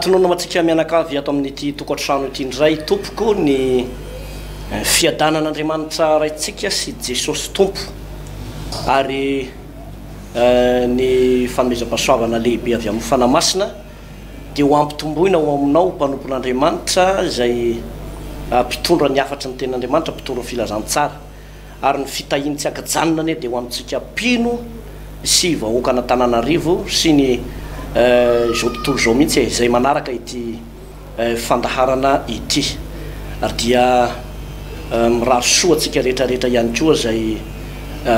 Tononina ho antsika mianakavy ato amin'ity tokantrano ity indray tompoko ny fiadanan'Andriamanitra Raintsika sy Jesosy Tompo ary ny fanomezam-pahasoavana lehibe avy amin'ny Fanahy Masina dia ho ampitomboina ho aminao mpanompon'Andriamanitra izay mpitondra ny hafatry ny tenin'Andriamanitra, mpitondra ny filazantsara. ary ny fitahiany tsy ankajanona anie dia ho amintsika mpino sy vahoakan'Antananarivo sy ny izao tontolo izao mihitsy e, izay manaraka ity fandaharana ity ary dia mirary soa antsika rehetra rehetra ihany koa izay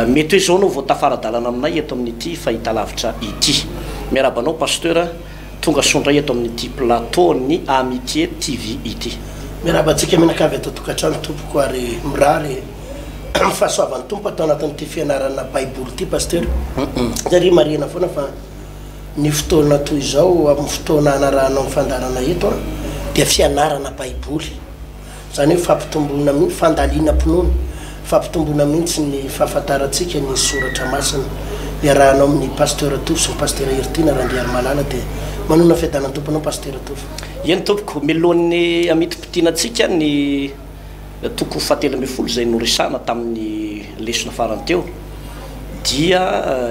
mety hoe izao no vao tafara-dalana aminay eto amin'ity fahitalavitra ity. Miarahaba anao Pasteur. Tonga soa indray eto amin'ity plateau-n'ny Amitié TV ity. Miarahaba antsika mianakavy ato an-tokantrano tompoko ary mirary ny fahasoavan'ny Tompo ato anatin'ity fianarana Baiboly ity Pasitera. Dia ry marihina foana fa ny fotoana toy izao amin'ny fotoana hanarahanao ny fandaharana eto dia fianarana Baiboly. Izany hoe fampitomboana mihitsy, fandalinam-pinoana, fampitomboana mihitsy ny fahafantarantsika ny soratra masina. Iarahanao amin'ny Pasteur Tovo sy ny Pasitera Heritiana Randriarimalala dia manonona fiadanan'ny Tompo anao Pasitera Tovo. Eny tompoko, milohan'ny hamitim-potiana antsika ny toko fahatelo ambin'ny folo izay noresahana tamin'ny lesona farany teo dia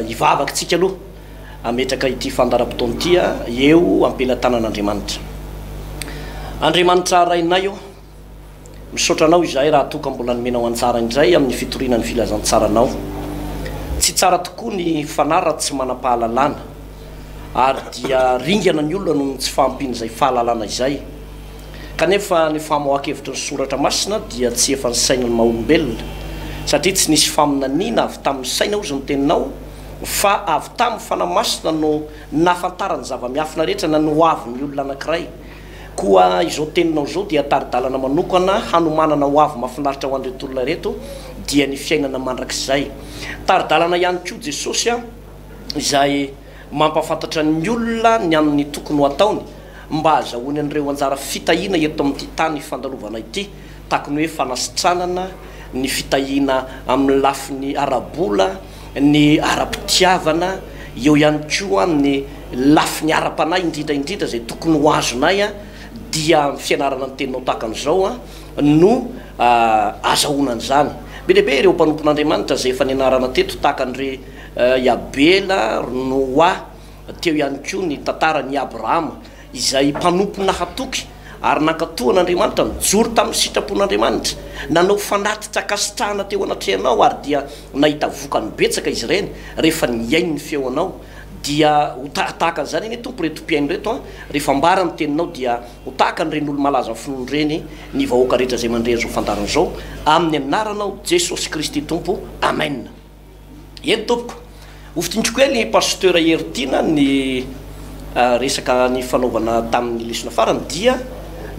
hivavaka tsika aloha Hametraka ity fandaharam-potoana ity eo am-pelatanan'Andriamanitra. Andriamanitra Rainay ô, misaotra Anao izahay raha toa ka mbola nomenao anjara indray amin'ny fitoriana ny filazantsaranao. Tsy tsara tokoa ny fanahy raha tsy manam-pahalalana, ary dia ringana ny olona noho ny tsy fahampian'izay fahalalana izay. Kanefa ny famoahan-kevitry ny Soratra Masina dia tsy efa ny sain'ny maha-olombelona, satria tsy nisy faminaniana avy tamin'ny saina hozy ny Teninao, Fa avy tamin'ny Fanahy Masina no nahafantarany zava-miafina rehetra na ny hoavin'ny olona anankiray. Koa izao teninao izao dia tari-dalana manokana hanomanana hoavy mahafinaritra ho an'ireto olona ireto, dia ny fiainana mandrakizay. Tari-dalana ihany koa Jesosy izay mampahafantatra ny olona ny amin'ny tokony ho ataony mba hahazahoany an'ireo anjara fitahiana eto amin'ity tany fandalovana ity. Takony hoe fanasitranana ny fitahiana amin'ny lafiny ara-bola, ny ara-pitiavana, eo ihany koa amin'ny lafiny ara-panahy indrindra indrindra izay tokony ho azonay dia amin'ny fianarana ny teninao tahaka an'izao no azahoana an'izany. Be dia be ireo mpanompon'Andriamanitra izay efa nianarana teto tahaka an' dry i Abela, ry Noa, teo ihany koa ny tantaran' i Abrahama. izay mpanompo nahatoky ary nankatò an'Andriamanitra, nijoro tamin'ny sitrapon'Andriamanitra, nanao fanatitra ankasitrahana teo anatrehanao, ary dia nahita vokany betsaka izy ireny, rehefa nihaino ny feonao, dia ho ta tahaka an'izany anie Tompo ireto mpihaino ireto an, rehefa ambara ny teninao dia ho tahaka an'ireny olo-malaza finoana ireny ny vahoaka rehetra izay mandre an'izao fandaharana izao, amin'ny anaranao Jesosy Kristy Tompo, Amen. Eny tompoko. Hofintiniko kely Pasteur Hery Tiana ny resaka nifanaovana tamin'ny lesona farany dia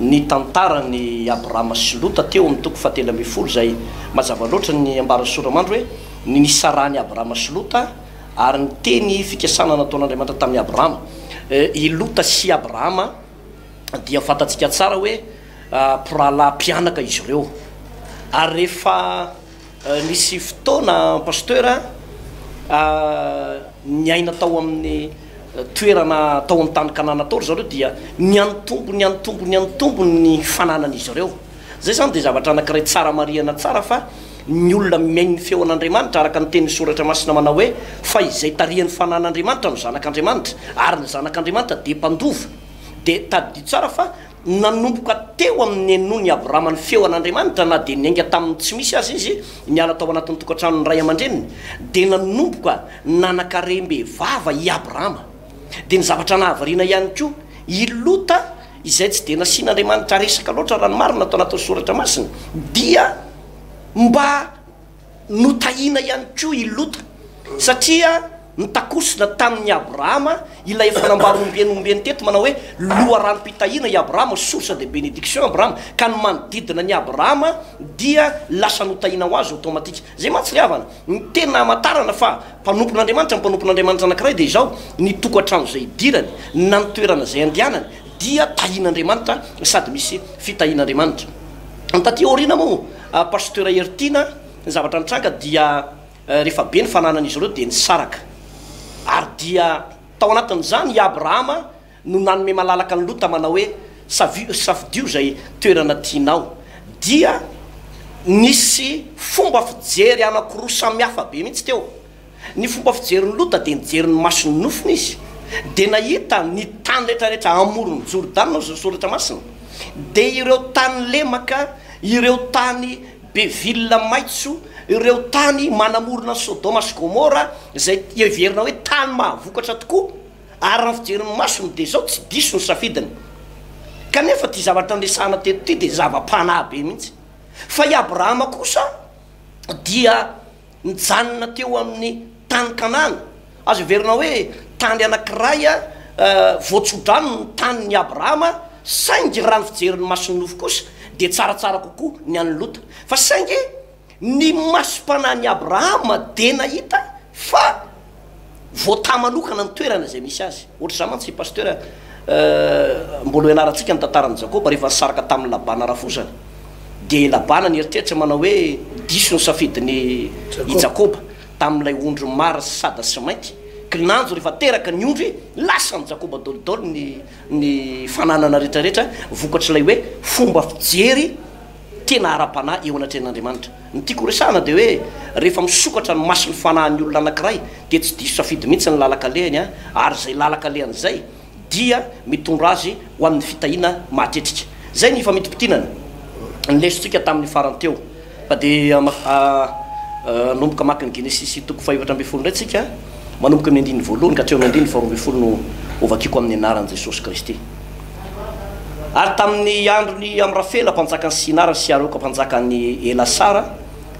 ny tantaran'i Abrahama sy Lota teo amin'ny toko fahatelo ambin'ny folo izay mazava loatra ny ambaran'i Soramandry hoe ny nisarahan'i Abrahama sy Lota ary ny teny fikasana nataon'Andriamanitra tamin'i Abrahama. I Lota sy Abrahama dia fantatsika tsara hoe mpirahalahy mpianaka izy ireo ary rehefa Nisy fotoana Pasteur a, niaina tao amin'ny toerana tao amin'ny tany Kanana tao ry zareo dia niantombo niantombo niantombo ny fananan'izy ireo. Izay izany dia zavatra anankiray tsara marihana tsara fa ny olona mihaino ny feon'Andriamanitra araka ny tenin'ny Soratra Masina manao hoe, fa izay tarihan'ny fanan'Andriamanitra no zanak'Andriamanitra ary ny zanak'Andriamanitra dia mpandova. Dia tadidio tsara fa. Nanomboka teo amin'ny nenon'i Abrahama ny feo an'Andriamanitra, na dia niainga tamin'ny tsy misy aza izy, niala tao anatin'ny tokantranon'ny ray aman-dreniny, dia nanomboka nanan-karem-behivava i Abrahama. Dia ny zavatra nahavariana ihany koa, i Lota, izay tsy dia nasian'Andriamanitra resaka loatra, raha ny marina, tao anatin'ny Soratra Masina, dia mba. Notahina ihany koa i Lota, satria notakosina tamin'i Abrahama ilay efa nambarombeny ombeny teto manao hoe loharanom-pitahiana i Abrahama, source de bénédiction Abrahama, ka ny manodidina an'i Abrahama dia lasa notahina ho azy automatique. Izay mantsy ry havana, ny teny namantarana fa mpanompon'Andriamanitra ny mpanompon'Andriamanitra anankiray dia izao, ny tokantrano izay idirany na ny toerana izay andehanany dia tahin'Andriamanitra sady misy fitahian'Andriamanitra. Ny taty aoriana moa. Pasteur Heritiana, ny zavatra nitranga dia rehefa be ny fananan'izy ireo dia nisaraka. Ary dia tao anatin'izany i Abrahama no nanome malalaka an'i Lota manao hoe, Savio, safidio izay toerana tianao. Dia nisy fomba fijery anankiroa samihafa be mihitsy teo. Ny fomba fijerin'i Lota dia nijery ny mason'ny nofony izy, dia nahita ny tany retraretra amoron'i Jordana, hoy ny Soratra Masina, dia ireo tany lemaka, ireo tany be vilona maitso, ireo tany manamorona an'i Sodoma sy Gomora, izay heverina hoe tany mahavokatra tokoa, araka ny fijerin'ny masony, dia izao, tsy diso ny safidiny. Kanefa ity zavatra niresahana teto ity dia zava-panahy be mihitsy. Fa i Abrahama kosa dia nijanona teo amin'ny tany Kanana. Azo heverina hoe tany anankiray voatsodrano ny tanin'i Abrahama, saingy raha ny fijerin'ny mason'ny nofo kosa dia tsaratsara kokoa ny an'i Lota. Fa saingy ny masom-panahin'i Abrahama dia nahita fa. voatà manokana ny toerana izay misy azy. Ohatr'izany mantsy i Pasteur mbola ho ianarantsika ny tantaran'i Jakoba rehefa nisaraka tamin'i Labana rafozany. Dia i Labana nieritreritra manao hoe diso ny safidin'i i Jakoba tamin'ilay ondry mara sy sada sy mainty. Kinanjo rehefa teraka ny ondry, lasan'i Jakoba dolidoly ny ny fananana rehetrarehetra vokatr'ilay hoe fomba fijery. tena ara-panahy eo anatrehan'Andriamanitra. Ny tiako horesahana dia hoe rehefa misokatra ny mason'ny fanahin'ny olona anankiray dia tsy diso safidy mihitsy ny lalan-kalehany ary izay lalan-kalehany izay dia mitondra azy ho amin'ny fitahiana mahatretrika. Izay ny ifamintimpitianana ny lesontsika tamin'ny farany teo. Fa dia manomboka maka ny Genesisy toko fahefatra ambin'ny folo indray tsika, manomboka amin'ny andininy voalohany ka hatreo amin'ny andininy faharoa ambin'ny folo no hovakiko amin'ny anaran'i Jesosy Kristy. Ary tamin' ny andron' i Amrafela mpanjakan' ny Sinara sy Areoka mpanjakan' ny Elasara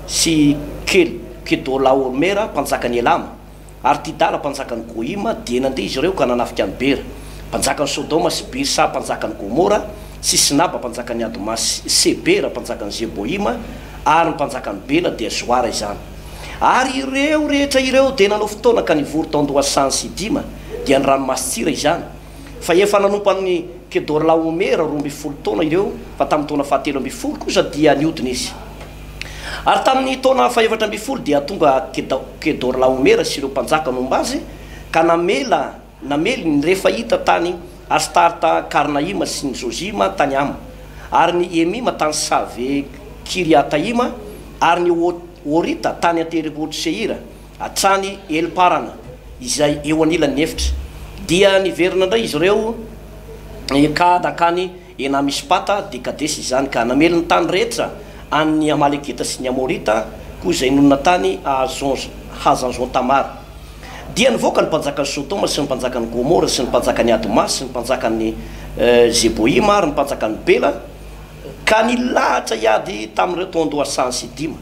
sy Kel Kedôlaômera mpanjakan' ny Elama ary Tidala mpanjakan' ny Gôima, dia nandeha izy ireo ka nanafika an' i Bera mpanjakan' ny Sôdôma sy Birsa mpanjakan' ny Gômôra sy Sinaba mpanjakan' ny Adma sy Sebera mpanjakan' ny Zebôima ary ny mpanjakan' ny Bela, dia Zoara izany. Ary ireo rehetra ireo dia nanao fotoana ka nivory tao an-dohasaha any Sidima, dia ny ranomasin-tsira izany, fa efa nanompo an'i Kedorlaomera roa ambin'ny folo taona ireo, fa tamin'ny taona fahatelo ambin'ny folo kosa dia nihodina izy. Ary tamin'ny taona fahefatra ambin'ny folo dia tonga Kedorlaomera sy ireo mpanjaka nomba azy, ka namela namely ny Refahita tany Astarta-karnaima sy ny Zozima tany Hama, ary ny Emima tany Save-kiriataima, ary ny Horita tany an-tendrombohitr'i Seira. hatrany Heliparana izay eo anilan'ny efitra. Dia niverina indray izy ireo ka nankany Ena-Mispata, dia Kadesy izany, ka namely ny tany rehetra an'ny Amalekita sy ny Amorita koa izay nonina tany Hazazon-Tamara. Dia nivoaka ny mpanjakan'i Sodoma sy ny mpanjakan'i Gomora sy ny mpanjakan'i Adma sy ny mpanjakan'i Zeboima ary ny mpanjakan'i Bela, ka nilahatra hiady tamin'ireo toan-doha Sansy dima.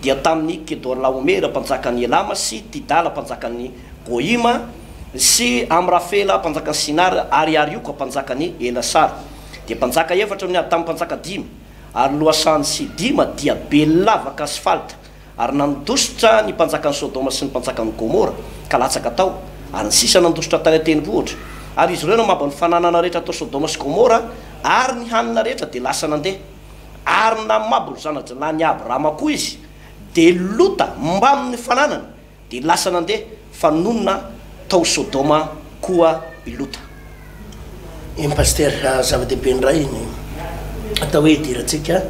dia tamin'i Kedorlaomera mpanjakan'i Elama sy Tidala mpanjakan'i Goima sy Amrafela mpanjakan'i Sinara ary Arioka mpanjakan'i Elasara, dia mpanjaka efatra no niady tamin'ny mpanjaka dimy, ary lohasahan'i Sidima dia Bel-lavaka asfalta, ary nandositra ny mpanjakan'i Sodoma sy ny mpanjakan'i Gomora, ka latsaka tao, ary ny sisa nandositra tany an-tendrombohitra, ary izy ireo namabo ny fananana rehetra tao Sodoma sy Gomora, ary ny hanina rehetra dia lasa nandeha. Ary ninamabo ny zana-jinahin' i Abrahama koa izy, dia Lota mbamin' ny fananany, dia lasa nandeha, fa nonina tao Sodoma koa i Lota. Eny Pasteur, zava-dehibe indray ny atao hoe idirantsika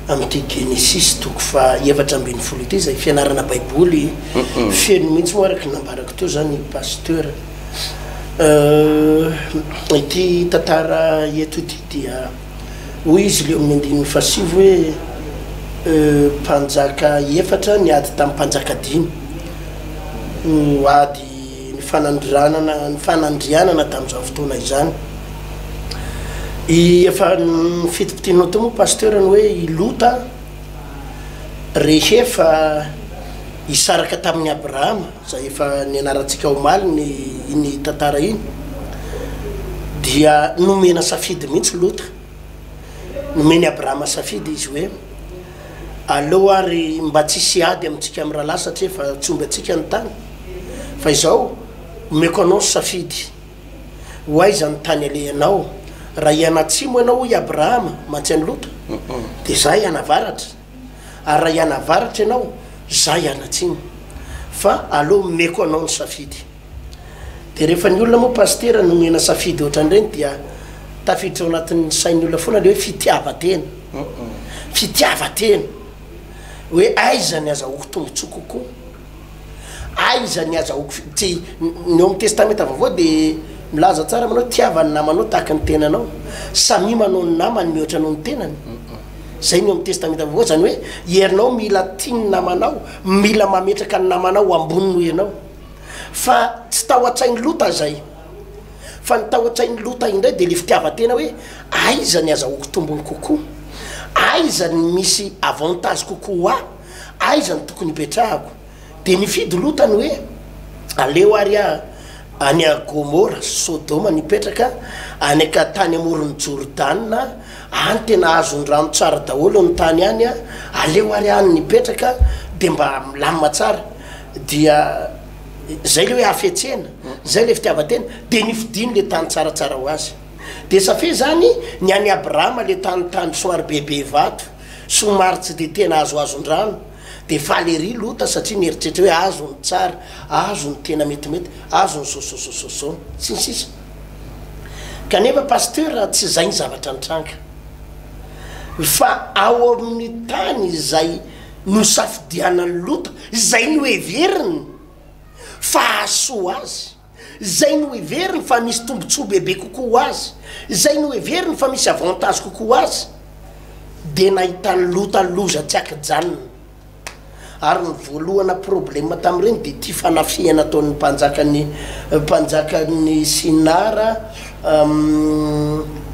amin'ity Genesisy toko faha efatra ambin'ny folo ity, izay fianarana baiboly feno mihitsy moa araka ny nambarako teo izany Pasteur. Ity tantara eto ity dia. Hoy izy ilay eo amin'ny andininy fahasivy hoe, E, mpanjaka efatra niady tamin'ny mpanjaka dimy, no ady nifanandrianana nifanandrianana tamin'izany fotoana izany. I efa fitipitianao teo moa Pasteur ny hoe i Lota rehefa hisaraka tamin'i Abrahama. izay efa nianarantsika omaly ny iny tantara iny dia nomena safidy mihitsy Lota, nomen'i Abrahama safidy izy hoe aleo ary mba tsy hisy ady amintsika amin'ny rahalahy satria efa tsy omby antsika ny tany fa izao omeko anao ny safidy ho aiza ny tany alehanao raha hianatsimo ianao hoy Abrahama mantsy an'i Lota dia izaho hianavaratra. ary raha hianavaratra ianao, izaho hianatsimo, fa aleo omeko anao ny safidy. Dia rehefa ny olona moa Pasitera no nomena safidy ohatran'ireny dia tafiditra ao anatin'ny sain'ny olona foana ilay hoe fitiavan-tena. Fitiavan-tena. Hoe aiza ny azahoako tombotsoa kokoa. Aiza ny azahoako fi tsy ny ao am testamenta vaovao de milaza tsara manao tiava ny namanao tahaka ny tenanao samia manao ny namany mihoatra noho ny tenany zay ny ao am testamenta vaovao zany hoe ianao mila tia ny namanao mila mametraka ny namanao ho ambony noho ianao fa tsy tao atsainy lota zay fa ny tao atsainy lota indray de le fitiavatena hoe aiza ny azahoako tombony kokoa aiza ny misy avantage kokoa ho ahy aiza no tokony hipetrahako? Dia nifidy Lota ny hoe, Aleo àry aho any a Gomora sy Sodoma no hipetraka, any an-katany amoron'i Jordana, any tena azon'ny rano tsara daholo ny tany any a, aleo àry any no hipetraka, dia mba milamina tsara. Dia izay ilay hoe hafetsena, izay ilay fitiavan-tena, dia nifidiany ilay tany tsaratsara ho azy. Dia safia izany ny an'i Abrahama, ilay tany tany somary bebe vato. Somary tsy dia tena azoazon-drano, dia faly ery Lota satria mieritreritra hoe azo ny tsara, azo ny tena metimety, azo ny sososososo, sy ny sisa Kanefa Pasteur tsy izay ny zavatra nitranga, fa ao amin'ny tany izay nosafidianan'i Lota izay noheveriny fa hahasoa azy. izay noheveriny fa misy tombontsoa bebe kokoa ho azy, izay noheveriny fa misy avantage kokoa ho azy, dia nahitany lota loza tsy akijanona. Ary ny voalohana problema tamin'ireny dia ity fanafihana ataon'ny mpanjakan'ny mpanjakan'ny Sinara,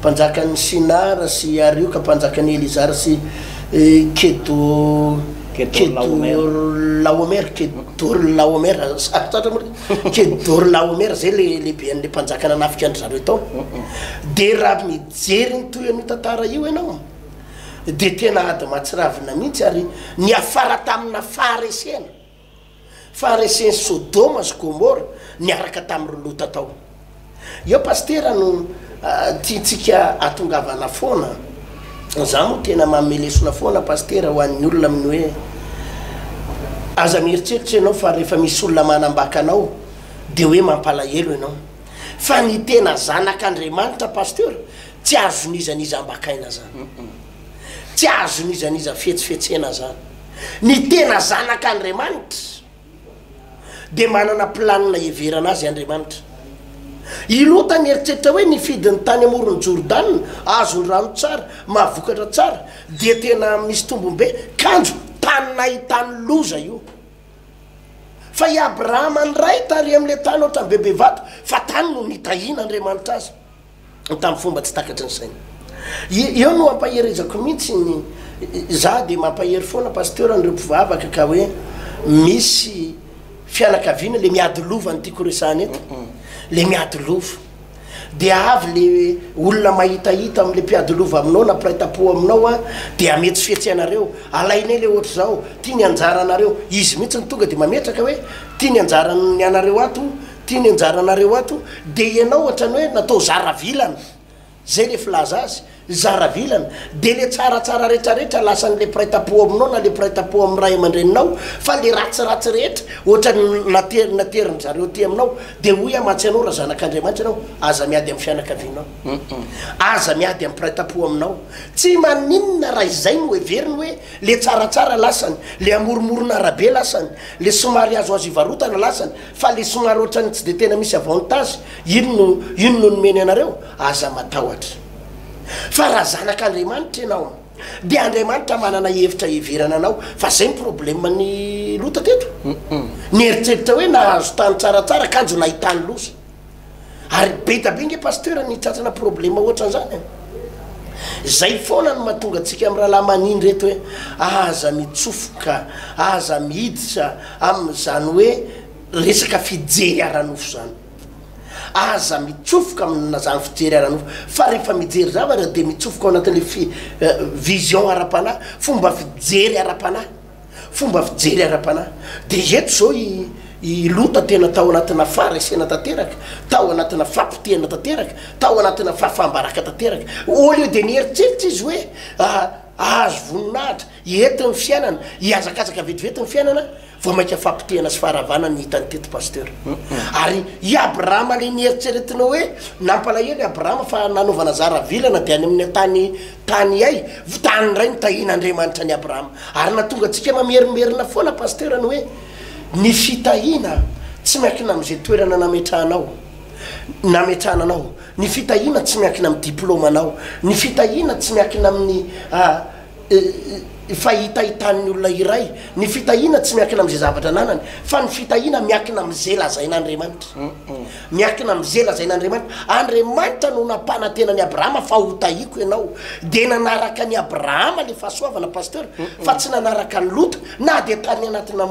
mpanjakan'ny Sinara sy Arioka, mpanjakan'i Elizara sy Kedo, Kedorlaomer, Kedorlaomer, sarotra loatra moa ilay. Kedorlaomer zay le lehibe an'le mpanjaka nanafika an-dry zareo tao. De raha mijery ny toy an'io tantara io ianao de tena ady mahatsiravina mihitsy ary niafara tamina faharesena, faharesen'i Sodoma sy Gomora niaraka tamin'ireo Lota tao. Eo pasitera no tiantsika atongavana foana. Za moa tena manome lesona foana pasitera ho an'ny olona amin'ny hoe aza mieritreritra ianao fa rehefa misy olona manambaka anao dia hoe mampalahelo ianao. Fa ny tena zanak'Andriamanitra pasteur tsy azon'iza n'iza ambakaina zany. Tsy azon'iza n'iza fetsifetsena zany. Ny tena zanak'Andriamanitra. dia manana planina hiheverana azy Andriamanitra. I Lota nieritreritra hoe nifidy ny tany amoron'i Jordana, azon'ny rano tsara, mahavokatra tsara, dia tena misy tombony be. Kanjo, tany nahitany loza io. Fa i Abrahama indray tary amin'ilay tany ohatran'ny be be vato, fa tany no nitahian'Andriamanitra azy. tamin'ny fomba tsy takatry ny saina. Eo no ampaherezako mihitsy ny, za dia mampahery foana Pasteur an'ireo mpivavaka ka hoe misy fianakaviana le miady lova ny tiako resahana eto, le miady lova dia avy le olona mahitahita amle mpiady lova aminao na mpiray tampo aminao a de hametsifetsy anareo, alainay le ohatr'izao, ty ny anjaranareo, izy mihitsy no tonga de mametraka hoe ty ny anjaran'ny anareo ato Ty ny anjaranareo ato dia ianao ohatrany hoe natao zaravilana zay le filaza azy, zaravilana dia le tsaratsara retraretra lasan le mpiray tampo aminao na le mpiray tampo amin'ny ray aman-dreninao fa le ratsiratsy rehetra ohatrany natery naterin'ny zareo ty aminao dia hoy aho matsy anao raha zanak'Andriamanitra ianao aza miady amin'ny fianakavianao aza miady amin'ny mpiray tampo aminao tsy maninona raha izay no heveriny hoe le tsaratsara lasany le amoromorona arabe lasany le somary azoazo hivarotana lasany Fa le somary otrany tsy de tena misy avantage iny no iny no nomeny anareo? Aza matahotra fa raha zanak Andriamanitra ianao de Andriamanitra manana hevitra hiheverana anao fa zay ny problème ny Lota teto niheritreritra hoe nahazo tany tsaratsara kanjo nahitany loza. Ary beta be nge pasteur ny tratrana problema ohatran'zany e! Zay foana no mahatonga antsika am rahalahy manindry eto hoe aza mitsofoka, aza miditra am zany hoe resaka fijery aranofo zany. Aza mitsofoka am zany fijery aranofo fa refa mijery zavatra de mitsofoka ao anatin'le fi vision ara-panahy, fomba fijery ara-panahy. Fomba fijery ara-panahy. Dia eto izao i, i Lota tena tao anatina faharesena tanteraka, tao anatina fahapotehana tanteraka, tao anatina fahafaham-baraka tanteraka. Au lieu dia nieritreritra izy hoe, Ah, hahazo voninahitra, hety ny fiainana, hihazakazaka vetivety ny fiainana, vao mainka fahapotehana sy faharavana ny hitany teto Pasteur. Ary i Abrahama ilay nieritreretina hoe, nampalahelo i Abrahama fa nanaovana zara vilana dia any amin'ny tany, Tany ay vy tany ndray no tahin Andriamanitra an'i Abraham ary natonga antsika mamerimberina foana Pasteur ny hoe ny fitahiana tsy miankina amin'izay toerana nametrahanao nametrahana anao, ny fitahiana tsy miankina amin'ny diploma anao, ny fitahiana tsy miankina amin'ny fahitahitan'ny olona iray, ny fitahiana tsy miankina amin'izay zavatra ananany fa ny fitahiana miankina amin'izay lazain'Andriamanitra. Miankina amin'izay lazain'Andriamanitra, Andriamanitra no nampanantena an'i Abrahama fa hotahiko ianao. Dia nanaraka an'i Abrahama ilay fahasoavana Pasteur fa tsy nanaraka an'i Lota na dia tany anatina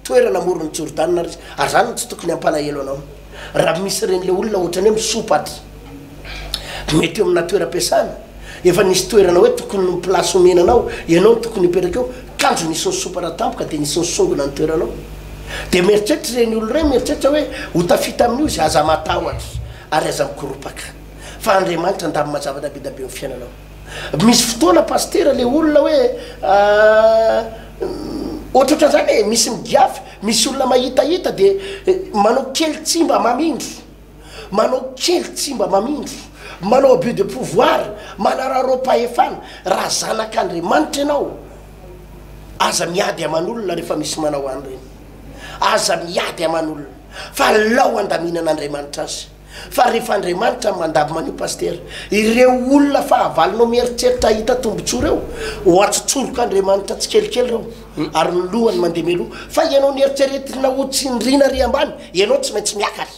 toerana amoron'i Jordana aza izy. Ary izany no tsy tokony hampalahelo anao raha misy ireny ilay olona ohatran'ny hoe misopatra. Mety eo amina toeram-piasana, efa nisy toerana hoe tokony ny place omena anao, ianao no tokony hipetraka eo, kanjo nisy nisopara tampoka dia nisy nisongona ny toeranao. Dia mieritreritra ireny olona ireny, mieritreritra hoe ho tafita amin'io izy, aza matahotra ary aza mikoropaka fa Andriamanitra handamina zavatra be dia be amin'ny fiainanao. Misy fotoana Pasitera ilay olona hoe ohatrohatran'izany e, misy migiafy, misy olona mahitahita dia manao kely tsy mba mamindro. manao kely tsy mba mamindro, manao abus de pouvoir, manararaoam-pahefana, raha zanak'Andriamanitra ianao, aza miady aman'olona rehefa misy manao an'ireny, aza miady aman'olona, fa alao handaminan'Andriamanitra azy, fa rehefa Andriamanitra no mandabo manio Pasitera, ireo olona fahavalonao mieritreritra hahita tombotsoa ireo, ho atsotsorok'Andriamanitra tsikelikely ireo, ary ny lohany mandeha mialoha, fa ianao nieritreretina ho tsindriana ary ambany, ianao tsy maintsy miakatra.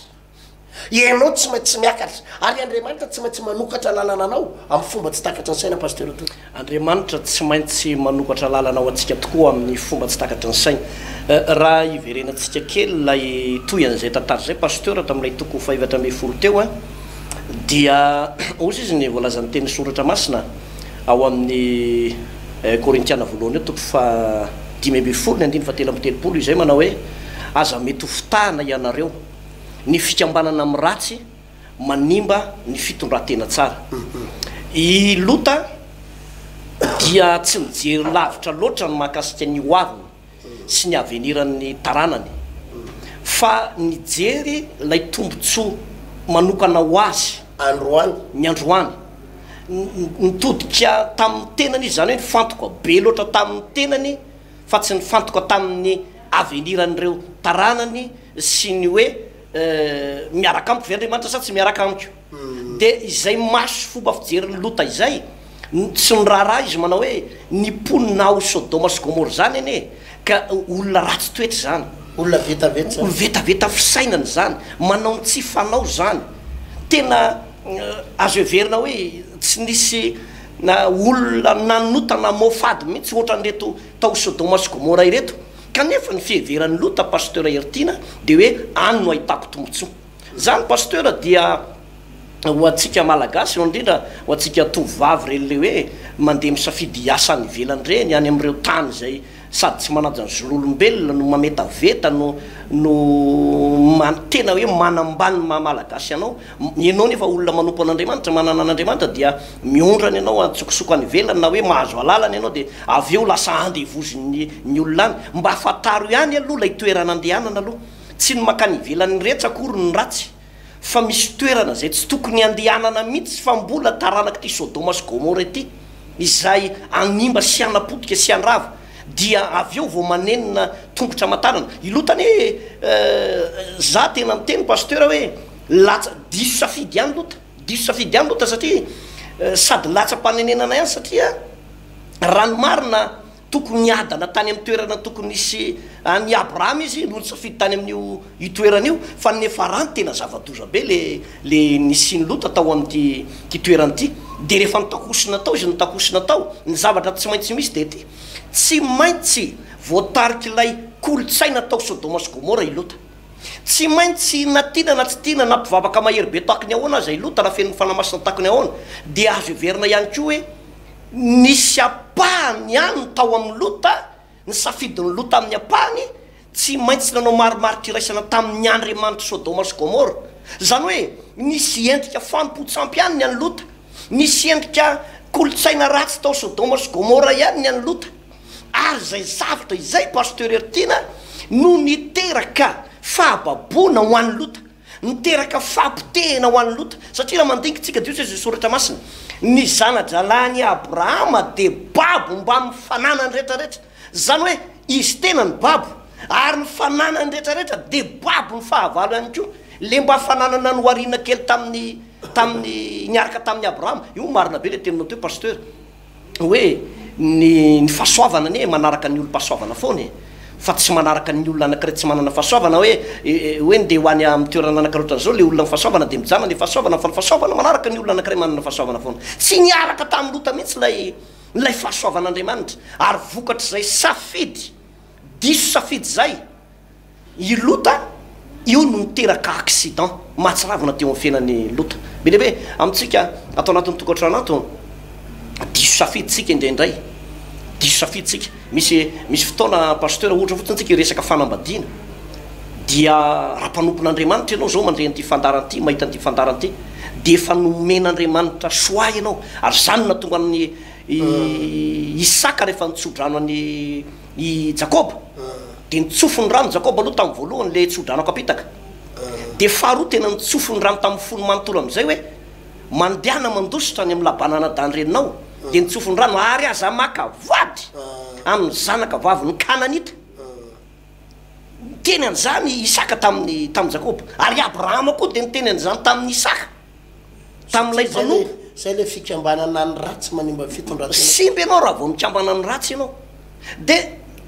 Ianao tsy maintsy miakatra, ary Andriamanitra tsy maintsy manokatra lalana anao amin'ny fomba tsy takatry ny saina Pasteur Toky. Andriamanitra tsy maintsy manokatra lalana ho antsika tokoa amin'ny fomba tsy takatry ny saina. Raha hiverenantsika kely ilay toy an'izay tantara izay Pasteur tamin'ilay toko fahefatra ambin'ny folo teo an, dia ozy izy ny voalazan'ny teny soratra masina ao amin'ny. Korintiana voalohany eo toko fahadimy ambin'ny folo ny andininy fahatelo amby telopolo izay manao hoe aza mety ho fitahana ianareo ny fikambanana amin'ny ratsy manimba ny fitondran-tena tsara. I Lota dia tsy nijery lavitra loatra ny mahakasika ny hoaviny. sy ny aveniran'ny taranany fa nijery ilay tombontsoa manokana ho azy ny androany. Nitodika tamin'ny tenany izy, izany hoe nifantoka be loatra tamin'ny tenany fa tsy nifantoka tamin'ny aveniran'ireo taranany sy ny hoe miaraka amiko ve Andriamanitra sa tsy miaraka amiko. Dia izay maso sy fomba fijerin'i Lota izay no tsy niraharaha izy manao hoe, Ny mponina ao Sodoma sy Gomora izany anie ka olona ratsy toetra izany. Olona vetaveta izany. Olona vetaveta fisainana izany. Manao ny tsy fanao izany. Tena azo heverina hoe tsy nisy olona nanota na mohafady mihitsy ohatran'ireto tao Sodoma sy Gomora ireto. Kanefa ny fiheveran'i Lota, Pasteur Heritiana, dia hoe any no ahitako tombotsoa. Zany Pasteur dia ho antsika Malagasy eo indrindra ho antsika tovovavy reny le hoe mandeha misafidy hiasa any ivelany reny any amin'ireo tany izay sady tsy manaja ny zon'olombelona no mametaveta no no man tena hoe manambany ny maha Malagasy anao ianao nefa olona manompo an'Andriamanitra manana an'Andriamanitra dia miondrana ianao antsokosoko any ivelany na hoe mahazo alalana ianao dia avy eo lasa andevozin'ny ny olona any mba fantaro ihany aloha ilay toerana andehanana aloha Tsy ny mankany ivelany retsy akory no ratsy fa misy toerana izay tsy tokony handehanana mihitsy fa mbola taranak'ity Sodoma sy Gomora ity izay hanimba sy hanapotika sy handrava dia avy eo vao manenina tongotra aman-tanana ilota anie eh za tena miteny Pasteur hoe latsa diso safidy ihany lota diso safidy ihany lota satria sady latsa-panenenana ihany satria raha ny marina Tokony hiadana tany amin'ny toerana tokony hisy an'i Abrahama izy no nisafidy tany amin'io io toerana io, fa ny Nefarany tena zava-doza be le le nisian'i Lota tao amin'ity ty toerana ity. Dia rehefa nitakosona tao izy nitakosona tao, ny zavatra tsy maintsy misy dia ity, tsy maintsy voatarik'ilay kolontsaina tao Sodoma sy Gomora i Lota. Tsy maintsy na tiana na tsy tiana, na mpivavaka mahery be tahaka ny ahoana aza i Lota, na feno ny Fanahy Masina tahaka ny ahoana, dia azo heverina ihany koa hoe, Nisy ampahany ihany ny tao amin'ny Lota, ny safidin'i Lota amin'ny ampahany, tsy maintsy nanao marimaritra iraisana tamin'ny Andriamanitr'i Sodoma sy Gomora. Izany hoe, nisy endrika fanompoan-tsampy ihany ny an'i Lota. Nisy endrika kolontsaina ratsy tao Sodoma sy Gomora ihany ny an'i Lota. Ary izay zavatra izay, Pasteur Hertiana, no niteraka fahababoana ho an'i Lota. Miteraka fahapotehina ho an'i Lota, satria raha mandinka tsika dia hoy Jesoa Soratra Masina, ny zana-drahalahin'i Abrahama dia babo mbamin'ny fananany rehetra rehetra, izany hoe izy tena no babo, ary ny fananany rehetra rehetra dia babo ny fahavalo ihany koa, le mba fananana nohariana kely tamin'ny tamin'ny niaraka tamin'i Abrahama, io marina be le teninao teo Pasteur. hoe ny ny fahasoavana anie manaraka ny olom-pahasoavana foana e, fa tsy manaraka ny olona anankiray tsy manana fahasoavana hoe hoe ndeha ho any amin'ny toerana nanakarohitra an'izao ilay olona mifahasoavana dia mijanona ilay fahasoavana fa ny fahasoavana manaraka ny olona anankiray manana fahasoavana foana. Tsy niaraka tamin'i Lota mihitsy ilay ilay fahasoavan'Andriamanitra ary vokatr'izay safidy diso safidy izay I Lota io no niteraka accident mahatsiravina teo amin'ny fiainan'i Lota. Be dia be amintsika ato anatin'ny tokantrano ato, diso safidintsika indraindray, diso safidintsika. Misy misy fotoana Pasteur, ohatra fotsiny tsika hiresaka fanambadiana, dia raha mpanompon'Andriamanitra ianao zao mandre an'ity fandaharana ity, mahita an'ity fandaharana ity, dia efa nomen'Andriamanitra choix ianao, ary zany no nahatonga an'i Isaka rehefa nitso-drano an'i, I Jakoba, dia nitsofy ny rano Jakoba aloha tamin'ny voalohany ilay tso-dranoko apitaka. Dia faharoa tena nitsofy ny rano tamin'ny fony manontolo amin'izay hoe, mandehana mandositra any amin'ny laban'anadahinreninao, dia nitsofy ny rano, ary aza maka vady amin'ny zanaka vavin'ny Kananita. Niteny an'izany i Isaka tamin'i, tamin'i Jakoba. Ary i Abrahama koa dia niteny an'izany tamin'i Isaka. tamin'ilay mpanompo. Izay ilay fikambanana ny ratsy manimba ny fitondran-tena. Simba ianao raha vao mikambana ny ratsy ianao. Dia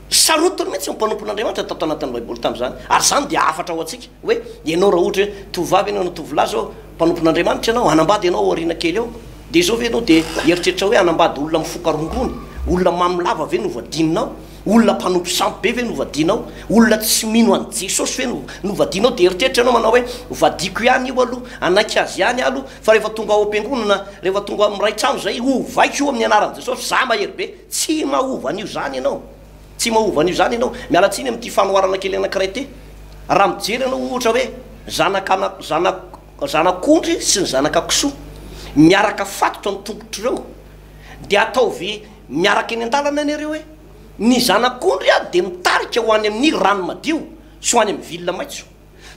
sarotiny mihitsy ny mpanompon'Andriamanitra tato anatin'ny Baiboly tamin'izany. Ary izany dia hafatra ho antsika. Hoe ianao raha ohatra hoe tovovavy ianao na tovolahy izao, mpanompon'Andriamanitra ianao, hanambady ianao ao aoriana kely ao, dia izao ve ianao dia hieritreritra hoe hanambady olona mifoka rongony, olona mamy lava ve no ho vadinonao? Olona mpanompo sampy be ve no hovadianao? Olona tsy mino an'i Jesosy ve no hovadianao? Dia eritreritra ianao manao hoe, Hovadiako ihany io aloha, hanaiky azy ihany aho aloha, fa rehefa tonga ao am-piangonana, rehefa tonga ao amin'ny iray trano izay, hovaiko io amin'ny anaran'i Jesosy, izaho mahery be. Tsy mahova an'io izany ianao. Tsy mahova an'io izany ianao. Miala tsiny amin'ity fanoharana kely anankiray ity. Raha mijery ianao ohatra hoe zanak'ana, zanak, zanak'ondry sy ny zanaka kisoa miaraka fatotra ny tongotr'ireo, dia ataovy, Miaraka eny an-dalana eny ireo e! Ny zanak'ondry aho dia mitarika ho any amin'ny rano madio sy ho any amin'ny ville maitso.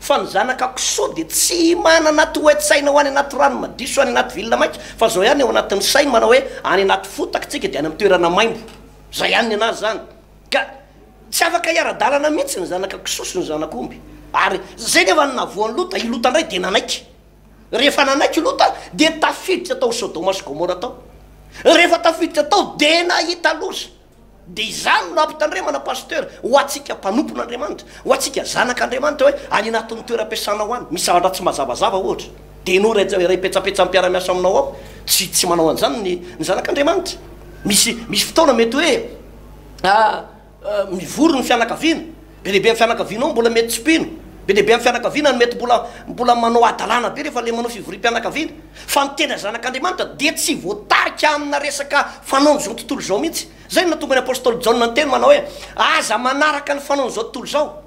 Fa ny zanaka kisoa dia tsy manana toe-tsaina ho any anaty rano madio sy ho any anaty ville maitso fa izao ihany ao anatin'ny sainy manao hoe any anaty fotaka tsika dia any amin'ny toerana maimbo. Izay ihany ny anazy izany. Ka tsy afaka hiara-dalana mihitsy ny zanaka kisoa sy ny zanak'omby. Ary izay nefa no nahavoan'i Lota, i Lota indray dia nanaiky. Rehefa nanaiky Lota dia tafiditra tao Sodoma sy Gomora tao. Rehefa tafiditra tao dia nahita loza. Dia izany no ampitandremana Pasteur ho antsika mpanompon'Andriamanitra, ho antsika zanak'Andriamanitra hoe any anatin'ny toeram-piasanao any misy zavatra tsy mazavazava ohatra dia ianao iray tsy iray petsapetsa miara-miasa aminao ao tsy tsy manao an'izany ny ny zanak'Andriamanitra. Misy misy fotoana mety hoe ah. Mivory ny fianakaviana, be dia be amin'ny fianakaviana ao no mbola mety tsy mpino, be dia be amin'ny fianakaviana no mety mbola mbola manao hadalana be rehefa ilay manao fivoriam-pianakaviana. Fa ny tena zanak'Andriamanitra dia tsy voatarika amina resaka fanaon'izao tontolo izao mihitsy. Izay no nahatonga ny apostoly Jaona niteny manao hoe, Aza manaraka ny fanaon'izao tontolo izao.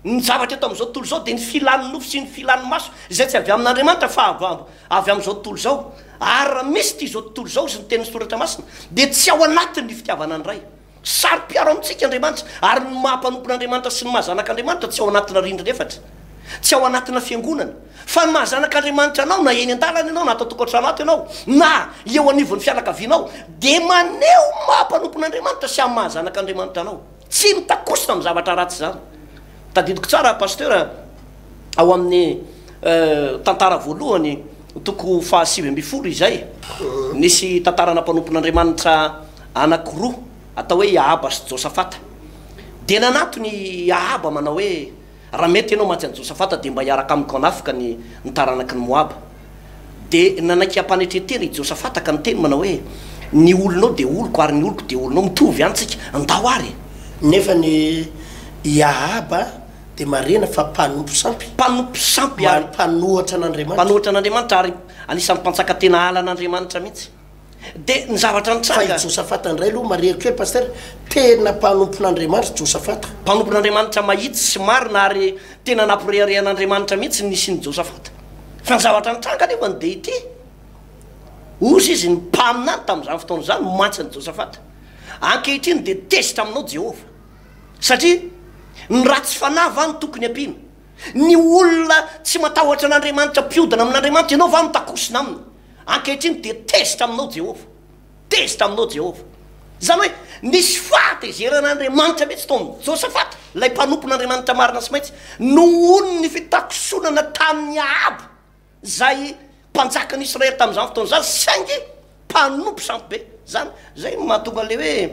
Ny zavatra eto amin'izao tontolo izao dia ny filan'ny nofo sy ny filan'ny maso, izay tsy avy amin'Andriamanitra fa avy avy amin'izao tontolo izao. Ary raha misy ity izao tontolo izao sy ny tenin'ny Soratra Masina dia tsy ao anatin'ny fitiavana ny Ray. Saro-piaro amintsika Andriamanitra, ary ny maha mpanompon'Andriamanitra sy ny maha zanak'Andriamanitra tsy ao anatina rindrina efatra, tsy ao anatina fiangonana, fa ny maha zanak'Andriamanitra anao na eny an-dalana ianao na ato an-tokantrano ato ianao na eo anivon'ny fianakavianao dia maneho ny maha mpanompon'Andriamanitra sy amin'ny maha zanak'Andriamanitra anao. Tsy mitakosina amin'ny zavatra ratsy izany. Tadidiko tsara Pasteur a. ao amin'ny tantara voalohany toko faha sivy ambin'ny folo izay, nisy tantarana mpanompon'Andriamanitra anankiroa atao hoe i Ahaba sy Josafata. Dia nanatona i Ahaba manao hoe, Raha mety ianao mantsy an'i Josafata dia mba hiaraka amiko hanafika ny ny taranaky ny Moaba. Dia nanaiky hampanetren-tena i Josafata ka niteny manao hoe, Ny olonao dia oloko ary ny oloko dia olonao, mitovy ihany tsika, ndao ary e! Nefa ny i Ahaba dia marihina fa mpanompo sampy. Mpanompo sampy ary. Ary mpanohatra an'Andriamanitra. Mpanohatra an'Andriamanitra ary anisan'ny mpantsaka tena ala an'Andriamanitra mihitsy. Dia ny zavatra nitranga. Fa i Josafata indray aloha marihiko hoe Pasitera, tena mpanompon'Andriamanitra i Josafata. Mpanompon'Andriamanitra mahitsy sy marina ary tena nampirehareha an'Andriamanitra mihitsy ny nisian'i Josafata. Fa ny zavatra nitranga anefany dia ity, hozy izy, ny mpaminany tamin'izany fotoana izany no mantsy an'i Josafata, Ankehitriny dia tezitra aminao Jehovah. Satria ny ratsy fanahy va no tokony ampiana? Ny olona tsy matahotra an'Andriamanitra mpiodina amin'Andriamanitra ianao va no takosona aminy? Ankehitriny dia tezitra aminao Jehovah. Tezitra aminao Jehovah. Izany hoe nisy fahatezerana Andriamanitra mihitsy tao amin'i Josafata, ilay mpanompon'Andriamanitra marina sy maintsy, noho ny fitakosonana tamin'i Ahaba. izay mpanjakan'i Israely tamin'izany fotoana izany, saingy mpanompo sampy be izany. Izay no mahatonga an'ilay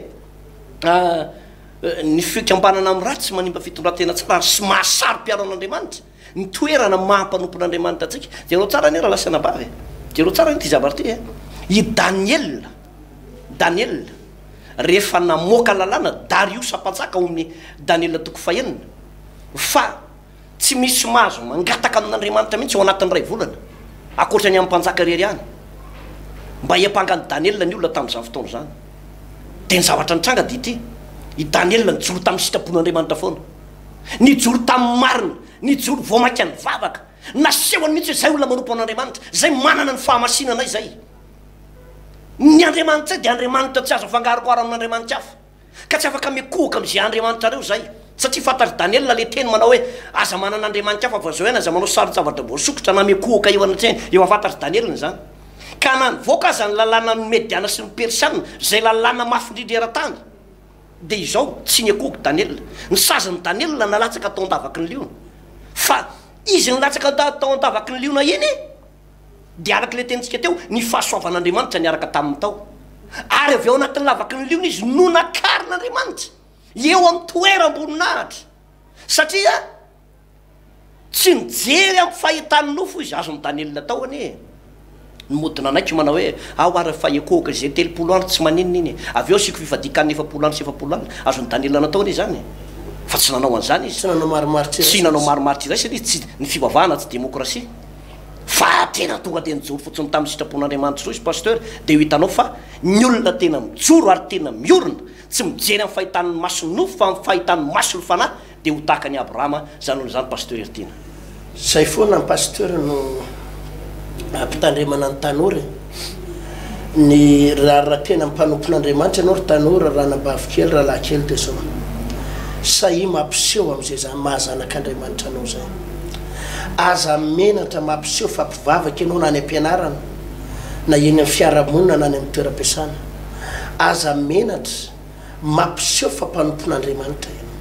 hoe ny fikambanana amin'ny ratsy manimba fitondran-tena tsara, ary tsy mahasaro-piaro an'Andriamanitra ny toerana maha mpanompon'Andriamanitra antsika. Jerao tsara anie rahalahy sy anabavy e! Jerao tsara anie ity zavatra ity e! I Daniela, Daniela, rehefa namoaka lalàna Dariosa mpanjaka ao amin'ny Daniela toko fahenina, fa Tsy misy mahazo mangataka amin'Andriamanitra mihitsy ao anatin'ny iray volana, ankoatra ny amin'ny mpanjaka irery ihany. Mba hiampanga an'i Daniela ny olona tamin'izany fotoana izany. Dia ny zavatra nitranga dia ity, i Daniela nijoro tamin'ny sitrapon'Andriamanitra foana. Nijoro tamin'ny marina, nijoro vao mainka nivavaka. Nasehony mihitsy hoe izay olona manompo an'Andriamanitra, izay manana ny fahamasinana izay. Ny Andriamanitray dia Andriamanitra tsy azo afangaroharo amin'andriamanitra hafa. Ka tsy afaka mikohoka amin'izay andriamanitra reo zahay, satria fantatr'i Daniela le teny manao hoe, aza manana andriamani-kafa avy amin'izao hiany, aza manao saron-javatra voasokitra na mikohoka eo anatrehany, efa fantatr'i Daniela izany. Ka na nivoaka aza ny lalànan'ny Mediana sy ny Persiana, izay lalàna mafy indrindra eran-tany, dia izao, tsy nikohoka Daniela. Ny sazin'i Daniela nalatsaka tao an-davaky ny liona. Fa izy nilatsaka tao an-davaky ny liona iny, Dia araka ilay tenintsika teo, ny fahasoavan'Andriamanitra niaraka taminy tao. Ary avy ao anatin'ny lavaky ny liona izy no nakarin'Andriamanitra, eo amin'ny toeram-boninahitra, satria tsy nijery amin'ny fahitan'ny nofo izy. Azon'i Daniela atao anie e! Ny mody nanaiky manao hoe, Aho ary efa ekohoka izay telopolo andro tsy maninona iny e! Avy eo asiako fifadian-kanina efapolo andro sy efapolo alina. Azon'i Daniela natao anie izany e! Fa tsy nanao an'izany izy. Tsy nanao marimaritra iray satria ny fivavahana tsy demokrasia. Fa raha tena tonga dia nijoro fotsiny tamin'ny sitrapon'Andriamanitra soa izy Pasteur dia ho hitanao fa ny olona tena mijoro ary tena miorina tsy mijery amin'ny fahitan'ny mason'ny nofo fa amin'ny fahitan'ny mason'ny fanahy dia ho tahaka an'i Abrahama izany olona izany Pasteur Heritiana. Zay foana ny Pasteur no ampitandremana ny tanora e. ny rariratenan'ny mpanompon'Andriamanitra ianao ry tanora, ranabavy kely, rahalahy kely dia sao sahia mampiseho amin'izay izany maha zanak'Andriamanitra anao izay. Aza menatra mampiseho fa mpivavaka ianao na any am-pianarana na eny amin'ny fiarahamonina na any amin'ny toeram-piasana. Aza menatra. Mampiseho fa mpanompon'Andriamanitra ianao.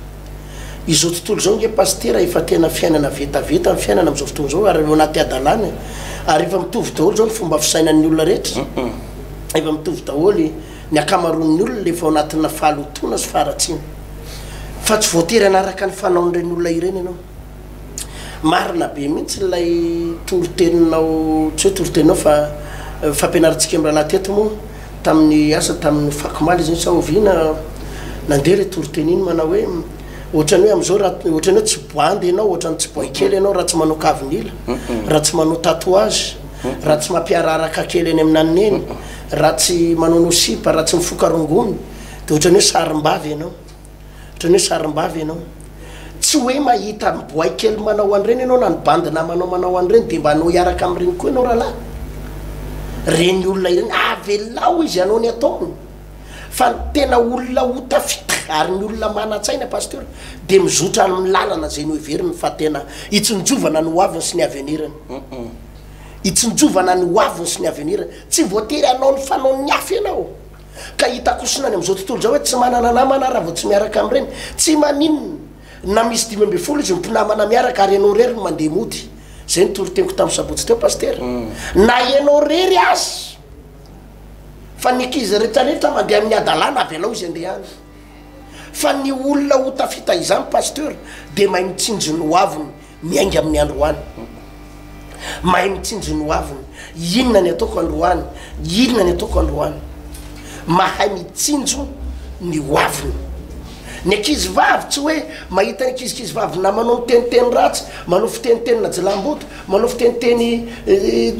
Izao tontolo izao nge Pasitera efa tena fiainana vetaveta ny fiainana amin'izao fotoana izao ary ao anaty hadalana e. Ary efa mitovy daholo izao ny fomba fisainan'ny olona rehetra. Efa mitovy daholo ny ankamaroan'ny olona efa ao anatina fahalotoana sy faharatsiana. Fa tsy voatery hanaraka ny fanaon'ireny olona ireny ianao. Marina be mihitsy ilay toriteninao tsy hoe toriteninao fa fampianarantsika mirahalahy teto moa tamin'ny asa tamin'ny fakomaly izy sa oviana nandeha ilay toriteny iny manao hoe ohatran'ny hoe amin'izao raha ohatran'ny hoe tsy boandy ianao ohatran'ny tsy boay kely ianao raha tsy manao kavinila raha tsy manao tatouage raha tsy mampiararaka kely any amin'ny nanineny raha tsy manao nosipa raha tsy mifoka rongony dia ohatran'ny hoe sarimbavy ianao Ohatran'ny hoe sarimbavy ianao. Tsy hoe mahita an'i Boay kely manao an'ireny ianao na ny bandy namanao manao an'ireny dia mba hanao hiaraka amin'ireny koa ianao rahalahy? Ireny olona ireny, avelao izy hanao ny ataony. Fa ny tena olona ho tafita ary ny olona manan-tsaina Pasteur dia mizotra amin'ny lalana izay noheveriny fa tena hitsinjovana ny hoaviny sy ny aveniriny. Hitsinjovana ny hoaviny sy ny aveniriny. Tsy voatery hanao ny fanaon'ny hafa ianao. ka hita kosina any amin'izao tontolo izao hoe tsy manana namana aho raha vao tsy miaraka amin'ireny. Tsy maninona na misy dimy ambin'ny folo izy mpinamana miaraka ary ianao irery no mandeha mody. Izay ny toriteny-ko tamin'ny sabotsy teo Pasitera. Na ianao irery aza fa ny ankizy rehetra rehetra mandeha amin'ny hadalana avelao izy handeha any. Fa ny olona ho tafita izany Pasteur dia mahay mitsinjo ny hoaviny miainga amin'ny androany. Mahay mitsinjo ny hoaviny. Inona ny ataoko androany? Inona ny ataoko androany? Mahay mitsinjo ny hoaviny. Ny ankizy vavy tsy hoe mahita ny ankizikizy vavy namanao miteniteny ratsy, manao fitenitenina jilamboto, Manao fiteniteny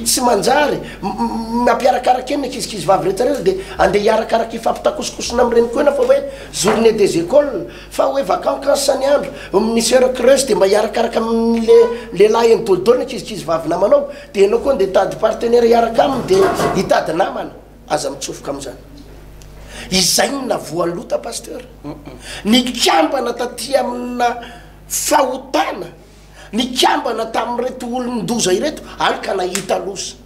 tsy manjary, mampiarakaraka eny ny ankizikizy vavy rehetra rehetra dia andeha hiarakaraka hifampitakosokosona amin'ny reniko ena fa hoe journée des écoles fa hoe vacancances ny andro, misy heure creuse dia mba hiarakaraka amin'ny le lehilahy eny daholo daholo ny ankizikizy vavy namanao dia enao koa andeha hitady partenaire hiaraka aminy dia hitady namana, aza mitsofoka amin'izany. Izay no navoaloata Pasteur. Nikambana taty amina fahotana. nikambana tamin'ireto olon-doza ireto, any ka nahita loza.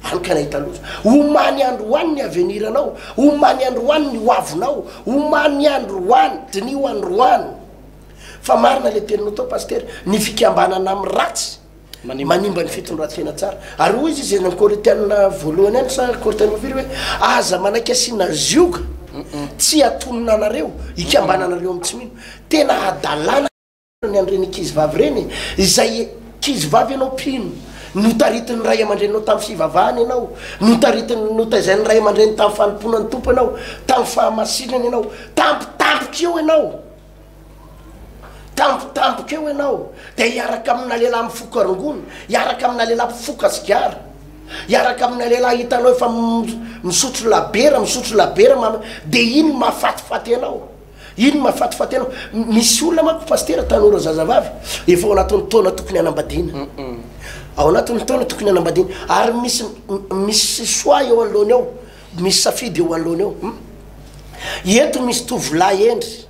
Any ka nahita loza. Omaly andro ho any ny aveniranao, omaly andro ho any ny hoavinao, omaly andro ho any, diniho androany. Fa marina ilay teninao tao Pasitera, ny fikambanana amin'ny ratsy manimba ny fitondran-tena tsara. Ary hoy izy izay nanao Korinthiana voalohany any sa Korinthiana fahafiry hoe aza manaiky asiana zioga tsy hatonina anareo, ikambananareo amin'ny tsy mino. Tena hadalana. ny an'ireny ankizivavy ireny e! izay ankizivavy ianao mpino, notaritin'ny ray aman-dreninao tamin'ny fivavahana ianao, notaritin'ny, notaizain'ny ray aman-dreniny tamin'ny fanompoana ny Tompo ianao, tamin'ny fahamasinana ianao, tampotampoka eo ianao, tampotampoka eo ianao, dia hiaraka amina lehilahy mifoka rongony, hiaraka amina lehilahy mpifoka sigara, hiaraka amina lehilahy hitanao efa misotro labiera, misotro labiera, dia iny mahafatifaty anao. Ino mahafatifaty anao? Misy olona manko Pasitera, tanora zazavavy, efa ao anatin'ny taona tokony hanambadiana. Ao anatin'ny taona tokony hanambadiana. Ary misy misy choix eo anoloany ao, misy safidy eo anoloany ao. Eto misy tovolahy hendry,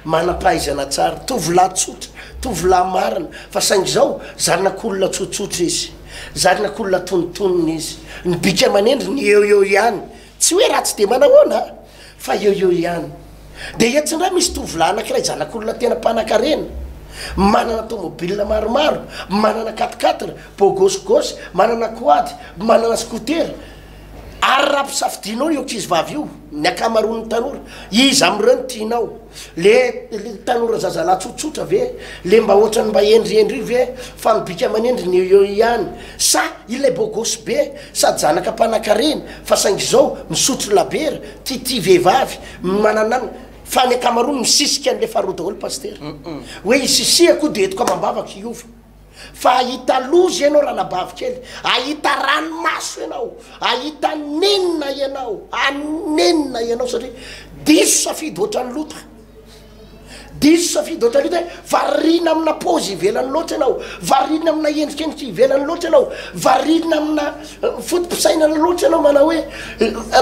manam-pahaizana tsara, tovolahy tsotra, tovolahy marina, fa saingy izao zanak'olona tsotsotra izy, zanak'olona antonontonony izy. Ny bika aman'endriny eo eo ihany. Tsy hoe ratsy dia manahoana a! Fa eo eo ihany dia etsy indray misy tovolahy anankiray zanak'olona tena mpanankarena, manana tomobil maromaro, manana quat-quatre, bogos gos, manana quad, manana scooter. Ary raha ampisafidianao io ankizivavy io, ny ankamaroan'ny tanora, iza amin'ireo no tianao? Le tanora zazalahy tsotsotra ve le mba ohatrany mba hendrihendry io ve fa ny bika aman'endriny eo eo ihany sa io lay beau gosse be sady zanaka mpanakarena fa saingy izao misotro labiera tia tia vehivavy mananana fa ny ankamaroany misisika an'le faharoa daholo pasitera hoe hisisihako dia entiko amam-bavako hiova fa ahita loza ianao ranabavy kely, ahita ranomaso ianao, ahita nenina ianao, hanenina ianao satria diso safidy ohatran'ny lota, diso safidy ohatran'ny lota hoe variana amina paozy ivelany loatra ianao, variana amina endrikendrika ivelany loatra ianao, variana amina foto-pisainana loatra ianao, manao hoe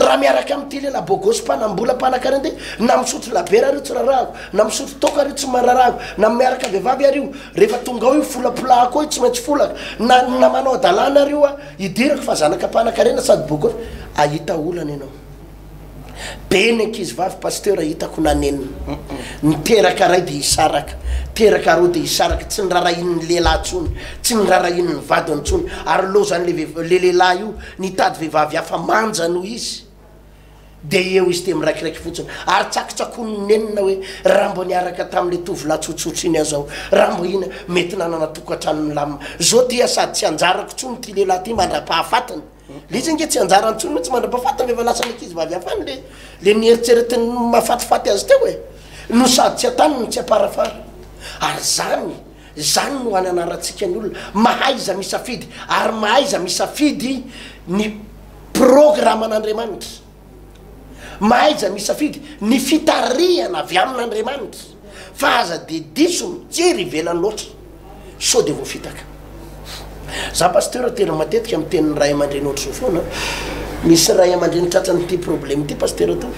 raha miaraka amin'ity lehilahy bôgôsy mpanam-bola mpanan-karena ity, na misotro labiera ary io tsy rarahako, na misotro toaka ary io tsy mararahako, na miaraka vehivavy ary io Rehefa tonga ao io folapolahako ao io tsy maintsy folaka na ny namanao adalana ary io a idirako fa zanaka mpanakarena sady boka eo ahita olana ianao be ny ankizivavy pasteur hitako nanenina ny teraka ray dia hisaraka teraka roa dia hisaraka tsy nirarahian'ny lehilahy tsony tsy nirarahian'ny vadiny tsony ary lozan'le le lehilahy io nitady vehivavy hafa manja noho izy Dia eo izy dia miraikiraiky fotsiny ary tsakitsakoin'ny nenina hoe raha mba niaraka tamin'ilay tovolahy tsotsotra iny aza aho, raha mba iny mety nanana tokantrano milamina. Izao dia sady tsy anjarako intsony ity lehilahy ity mandra-pahafatiny. Ilay izy ange tsy anjarany intsony mihitsy mandra-pahafatiny rehefa lasa ny ankizivavy hafany ilay ilay nieritreretiny mahafatifaty azy teo e! No sady tsy an-tany no tsy am-parafara. Ary izany, izany no any anarantsika ny olona, mahaiza misafidy ary mahaiza misafidy ny Programan'Andriamanitra. Mahaiza misafidy ny fitarihana avy amin'Andriamanitra fa aza dia diso mijery ivelany loatra sao dia voafitaka. Za Pasteur tena matetika miteny ny Ray aman-dreny ohatr'izao foana, misy Ray aman-dreny tratran'ity problème ity Pasteur Tovo.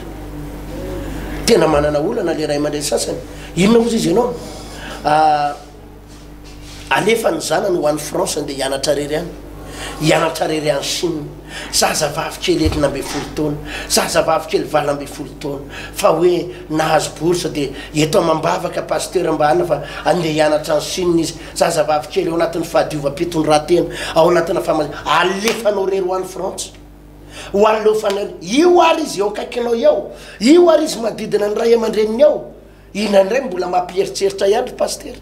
Tena manana olana le Ray aman-dreny sasany, inona ozy izy ianao? Alefa ny zanany ho any France andeha hianatra rery any. Hianatra rery any Chine. Zaza vavy kely enina ambin'ny folo taona. Zaza vavy kely valo ambin'ny folo taona. Fa hoe nahazo bourse dia eto amam-bavaka Pasteur mba anona fa andeha hianatra any Chine izy. Zaza vavy kely ao anatin'ny fahadiovam-pitondran-tena. Ao anatina fama. Alefanao rery ho any France. Ho aleofanao. Io ary izy eo akaikinao eo. Io ary izy manodidina ny ray aman-dreniny eo. Inona indray mbola mampieritreritra ihany ry Pasitera?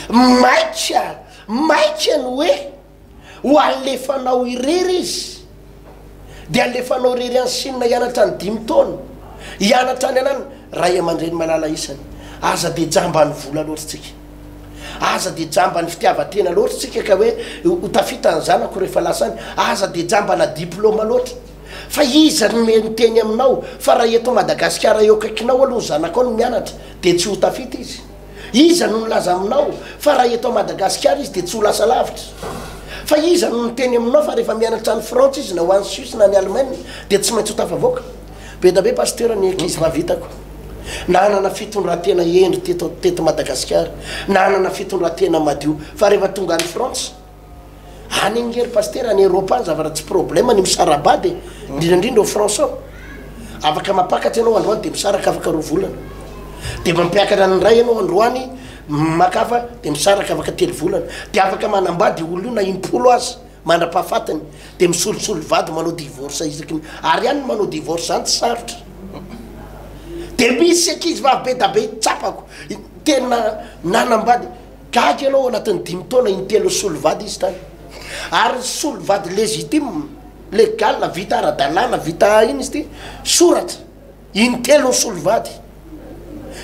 Maika, maika ny hoe ho alefanao irery izy, dia alefanao irery any Chine hianatra ny dimy taona, hianatra any anany Ray aman-dreny malala isany. Aza dia jamba ny vola loatra tsika. Aza dia jamba ny fitiavan-tena loatra tsika ka hoe ho tafita ny zanako rehefa lasa any. Aza dia jamba na diploma loatra. Fa iza ary no miteny aminao fa raha eto Madagasikara eo akaikinao aloha ny zanakao no mianatra dia tsy ho tafita izy? Iza no nilaza aminao fa raha eto Madagasikara izy dia tsy ho lasa lavitra? Fa iza no niteny aminao fa rehefa mianatra any Frantsa izy na ho any Suisse na any Allemagne dia tsy maintsy ho tafavoaka? Be da be Pasteur ny ankizivavy hitako nanana fitondratena hendry teto Madagasikara, nanana fitondratena madio fa rehefa tonga any Frantsa, Any ange ry Pasitera, any Eropa any zavatra tsy problème ny misara-bady e, indrindra indrindra ao France ao. Afaka mampakatra ianao androany dia misaraka afaka roa volana. Dia mampiakatra ny iray ianao androany, maka hafa dia misaraka afaka telo volana. Dia afaka manambady io olona io na im-polo aza mandra-pahafatiny. Dia misolosolo vady manao divorce isaky ny, ary any ny manao divorce zany tsy sarotra. Dia misy ankizivavy be da be tsapako, tena nanambady. Gaga ianao, ao anatin'ny dimy taona, in-telo nisolo vady izy tany. Ary nisolo vady légitime, légal, vita ara-dalàna, vita inona izy ity? Soratra. In-telo nisolo vady.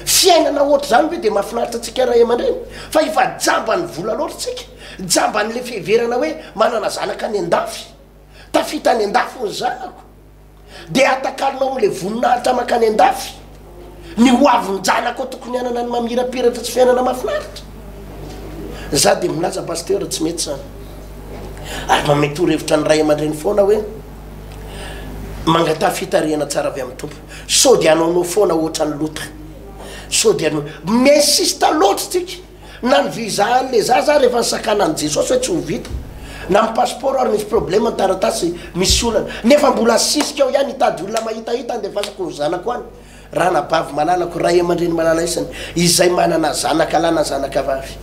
Fiainana ohatr'izany ve dia mahafinaritra antsika ray aman-dreny? Fa efa jamban'ny vola loatra isika. Jamban'ilay fiheverana hoe manana zanaka any an-dafy. Tafita any an-dafy ny zanako. dia atakalonao amin'ilay voninahitra mankany an-dafy ny ho avin'ny janako tokony hanana ny mamirapiratra sy fiainana mahafinaritra za dia milaza pasteur tsy mety zany ary mamehy torohevitra ny ray aman-dreny foana hoe mangataha fitarihana tsara avy amin'ny tompo sao dia hanaonao foana ohatra ny lota sao dia m'insista loatra tsika Na ny visa an le zaza ary efa nisakana an'i Jesosy hoe tsy ho vita. Na ny passeport ary misy problème ny taratasy misy olana. Nefa mbola asisika ao ihany hitady olona mahitahita handefasako ny zanako any. Ranabavy malalako, ray amandreny malalaisany izay manana zanaka lahy na zanaka vavy.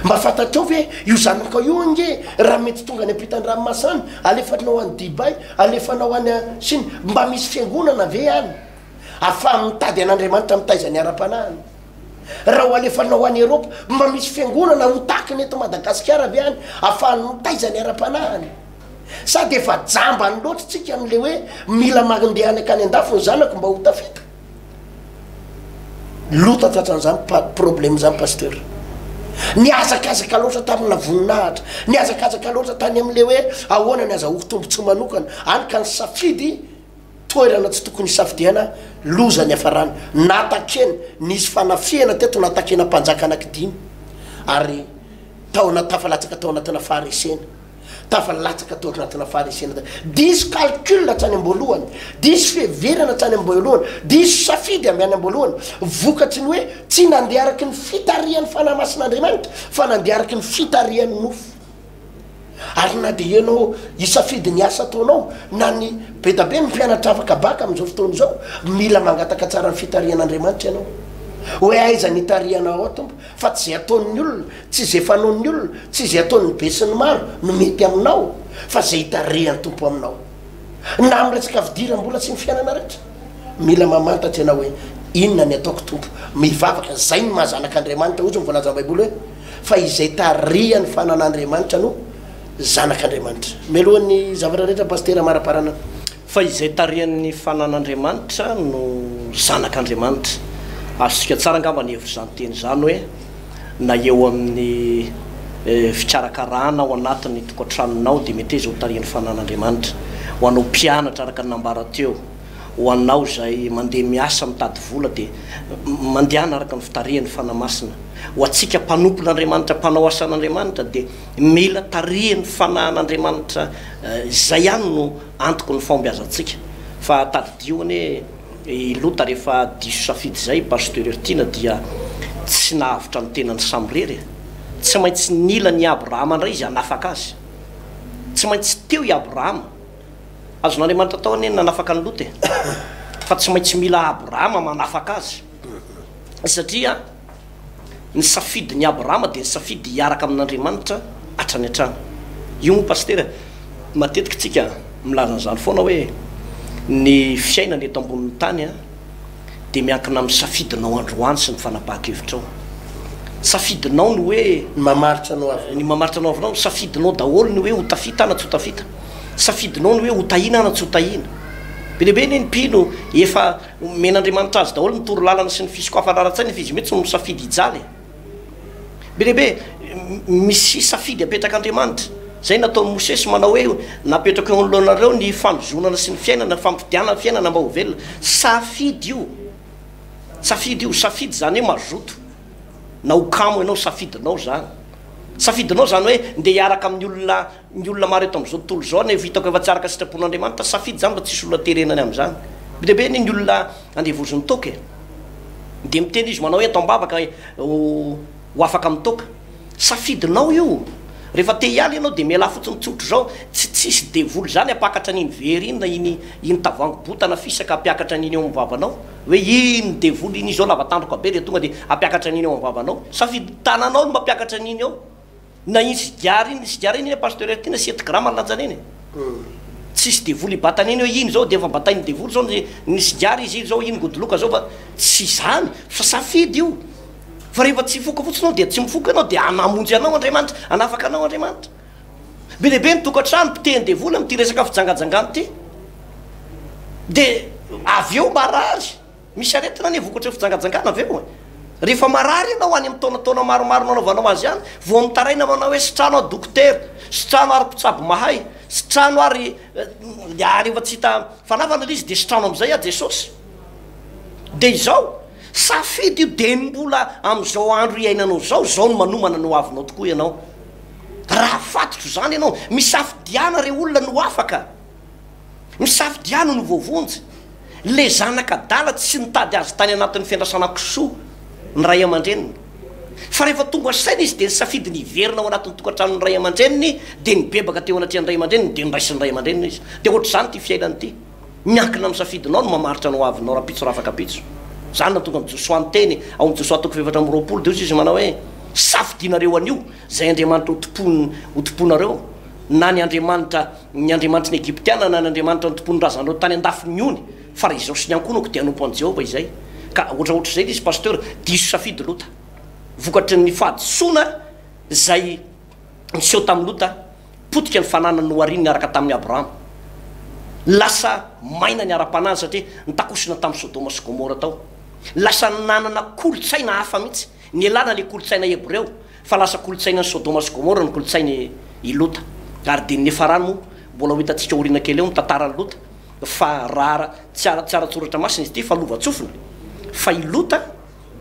Mba fantatrao ve io zanakao io ange raha mety tonga any ampitan-dranomasana, alefanao any Dubai, alefanao any Chine, mba misy fiangonana ve any afahan'ny mitady an'Andriamanitra mitaizany ara-panahiny? Raha ho alefanao any Eropa, mba misy fiangonana ho takiny eto Madagasikara ve any afahany mitaiza ny ara-panahiny? Sa dia efa jambany loatra isika amin'ilay hoe mila mandeha any akany an-dafy ny zanako mba ho tafita? Loto tratran'izany problème izany Pasteur. Nihazakazaka loatra tamina voninahitra, nihazakazaka loatra tany amin'ilay hoe ahoana ny azahoako tombontsoa manokana, hany ka nisafidy Toerana tsy tokony hisafidiana loza niafarany, natakeny, nisy fanafihana teto natakena mpanjaka anaky dimy ary taona tafalatsaka tao anatina faharesena, tafalatsaka tao anatina faharesena, diso calcul hatrany amboalohany, diso fiheverana hatrany amboalohany, diso safidy avy any amboalohany, vokatry ny hoe tsy nandeha araky ny fitarihan'ny fanahy masin'Andriamanitra fa nandeha araky ny fitarihan'ny nofo. Ary na dia ianao hisafidy ny asa ataonao na ny bedabe ny mpianatra afaka bac amin'izao fotoana izao, mila mangataka tsara ny fitarihan'Andriamanitra ianao hoe aiza ny itarihana ao Tompo fa tsy izay ataon'ny olona, tsy izay fanaon'ny olona, tsy izay ataon'ny be sy ny maro no mety aminao fa izay itarihan'ny Tompo aminao. Na amin'ny resaka fidiram-bola sy ny fiainana rehetra, mila mamantatra ianao hoe inona ny ataoko Tompo, mivavaka, izay ny maha zanak'Andriamanitra, hoy izy ny voalazan'ny Baiboly hoe. fa izay tarihan'ny fananan'Andriamanitra no zanak'Andriamanitra. Mialoha ny zavatra rehetra Pasitera amaraparanana. Fa izay tarihan'ny fananan'Andriamanitra no zanak'Andriamanitra. Azontsika tsara angamba ny hevitra izany teny izany hoe na eo amin'ny fikarakarana ao anatin'ny tokantranonao dia mety hoe izay ho tarihan'ny fananan'Andriamanitra. Ho anao mpianatra araka ny nambara teo. Ho anao izay mandeha miasa mitady vola dia mandehana araka ny fitarihan'ny Fanahy Masina. Ho antsika mpanompon'Andriamanitra, mpanao asan'Andriamanitra dia mila tarihin'ny Fanahin'Andriamanitra izay ihany no antoky ny fahombiazantsika. Fa tadidio anie i Lota rehefa diso safidy izay i Pasteur Hertina dia tsy nahavotra ny tenany samirery e! Tsy maintsy nila an'i Abrahama indray izy hanafaka azy. Tsy maintsy teo i Abrahama Azon'Andriamanitra atao anie ny nanafaka an'i Lota e! Fa tsy maintsy mila Abrahama manafaka azy. Satria ny safidin'i Abrahama dia ny safidy hiaraka amin'Andriamanitra hatrany hatrany. Io moa Pasitera e! Matetika tsika milaza an'izany foana hoe ny fiainana eto ambonin'ny tany a! Dia miankina amin'ny safidinao androany sy ny fanapahan-kevitrao. Safidinao ny hoe. Ny mamaritra anao avy eo. Ny mamaritra anao avy eo. Safidinao daholo ny hoe ho tafita na tsy ho tafita. safidinao ny hoe ho tahiana na tsy ho tahiana. Be dia be anie ny mpino efa nomen'Andriamanitra azy daholo ny toro lalana sy ny fisokafana ara-tsaina fa izy mihitsy no misafidy hijaly e. Be dia be misy safidy apetrak'Andriamanitra. Izay nataon'i Mosesy manao hoe napetrako eo anoloanareo ny fanozonana sy ny fiainana, fampidianana fiainana mba ho velona. Safidy io, safidy io, safidy izany hoe mazoto na ho kamo ianao, safidinao izany. Safidinao izany hoe ndeha hiaraka amin'ny olona. Ny olona maro eto amin'izao tontolo izao anefa hitako efa tsy araka ny sitrapon'Andriamanitra, safidy izany fa tsisy olona terenany amin'izany. Be dia be anie ny olona andevozin'ny toaka e! Dia miteny izy manao hoe atao am-bavaka ho afaka amin'ny toaka. Safidinao io! Rehefa te hiala ianao dia mialà fotsiny tsotra izao, tsy tsisy devoly izany hampakatra an'iny vera iny na iny iny tavoahangy botana fisaka hampiakatra an'iny eo amin'ny vavanao hoe iny devoly iny izy zao lava tandroka be dia tonga dia hampiakatra an'iny eo amin'ny vavanao. Safidy tananao no mampiakatra an'iny eo. Na iny sigara iny, sigara iny anie pasteur aty na sept grammes ny lanjany eny e! Tsisy devoly hibatana eny hoe iny zao dia efa batain'ny devoly zao ny ny sigara izy iny zao iny godoloka zao fa tsy izany fa safidy io fa rehefa tsy hifoka fotsiny anao dia tsy mifoka ianao dia hanamonjy anao Andriamanitra hanafaka anao Andriamanitra be dia be ny tokantrano potehin'ny devoly amin'ity resaka fijangajangana ity dia avy eo marary Misy aretina anie vokatry ny fijangajangana avy eo e! Rehefa marary ianao any amin'ny taonataona maromaro nanaovanao azy ihany vao mitaraina manao hoe sitrano aho dokotera, sitrano ary mpitsabo mahay, sitrano ary dia ary efa tsy hita fanavana ilay izy dia sitrano amin'izay aho Jesosy. Dia izao, safidy io dia ny mbola amin'izao andro iainanao izao, izao no manomana ny hoavinao tokoa ianao. Raha fantotro izany ianao, misafidiana ireo olona no afaka. Misafidiano ny voavonjy. Ilay zanaka adala tsy nitady azy tany anatin'ny fiandrasana kisoa ny ray aman-dreniny. Fa rehefa tonga saina izy dia nisafidy ny hiverina ao anatin'ny tokantranon'ny ray aman-dreniny dia nibebaka teo anatrehan'ny ray aman-dreniny dia noraisin'ny ray aman-dreniny izy. Dia ohatr'izany ity fiainana ity. Miankina amin'ny safidinao ny mamaritra ny hoavinao rahampitso rafakapitso. Izany no hahatonga an'i Josoa niteny ao amin'ny Josoa toko fahefatra amby roapolo dia hoy izy manao hoe, Safidinareo anio izay Andriamanitra hotompoinareo na ny Andriamanitra Ny Andriamanitry ny Egyptiana na ny Andriamanitra nitompoan'ny razanareo tany an-dafy ny ony, fa raha izao sy ny ankohonako dia hanompo an'i Jehovah izay. Ka ohatraohatr'izay ilay izy Pasteur, diso safidy Lota. Vokatry ny fahadisoana izay niseho tamin'i Lota, potika ny fananany nohariny niaraka tamin'i Abrahama. Lasa maina ny ara-panahiny satria nitakosona tamin'i Sodoma sy Gomora tao. Lasa nanana kolontsaina hafa mihitsy, nialana ilay kolontsaina hebreo. Fa lasa kolontsainan'i Sodoma sy Gomora ny kolontsainy i Lota. Ary dinin'i Farany moa, mbola ho hitantsika aoriana kely eo ny tantaran'i Lota. Fa raha tsy ara tsy ara-tsoratra masina izy ity fa lovantsofina. Fa i Lota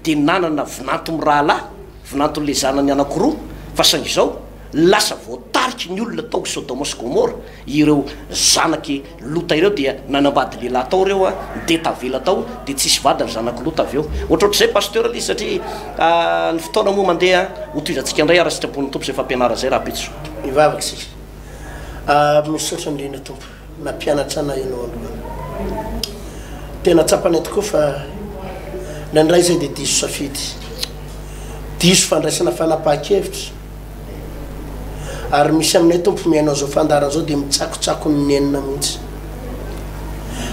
dia nanana vinanto mirahalahy, vinanton'ilay zanany anankiroa. Fa saingy izao, lasa voatariky ny olona tao Sodoma sy Gomora ireo zanak'i Lota ireo dia nanambady lehilahy tao ireo a dia tavela tao dia tsisy vady ry zanak'i Lota avy eo ohatrohatr'izay Pasteur le izy satria ny fotoana moa mandeha ho tohizantsika indray ara sitrapon'ny Tompo izay fampianarana izay Rahampitso. Mivavaka isika. Ah misaotra indrindra Tompo nampianatra anay ianao androany. Tena tsapanay tokoa fa indraindray izay dia diso safidy, diso fandraisana fanapahan-kevitra. Ary misy aminay tompo mihaino an'izao fandaharana izao dia mitsakotsakony nenina mihitsy.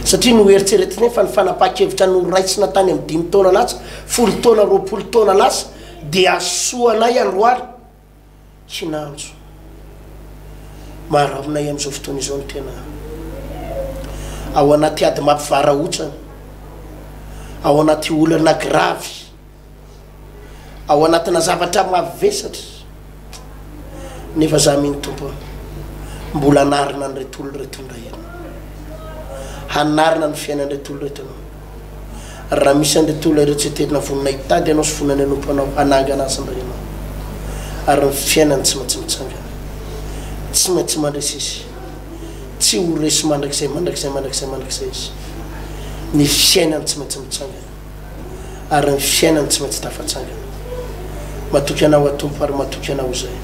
Satria noeritreretinay fa ny fanapahan-kevitra noraisina tany amin'ny dimy taona lasa, folo taona, roapolo taona lasa dia hasoa anay androany. Kinanjo. Mahararaotina ahy amin'izao fotoana izao ny tena. Ao anaty ady mampivarahontsana. Ao anaty olana gravy. ao anatina zavatra mavesatra nefa za mino tompo mbola anarina an'ireto olona ireto indray ianao hanarina ny fiainan'ireto olona ireto ianao raha misy an'ireto olona ireo tsy tena vonona hitady ianao sy vonona ny anompo anao hanangana azy indray ianao ary ny fiainany tsy maintsy mitsangana tsy maintsy mandresy izy tsy ho resy mandrakizay mandrakizay mandrakizay mandrakizay izy ny fiainany tsy maintsy mitsangana ary ny fiainany tsy maintsy tafatsangana. Matoky Anao, aho Tompo, ary matoky Anao izahay.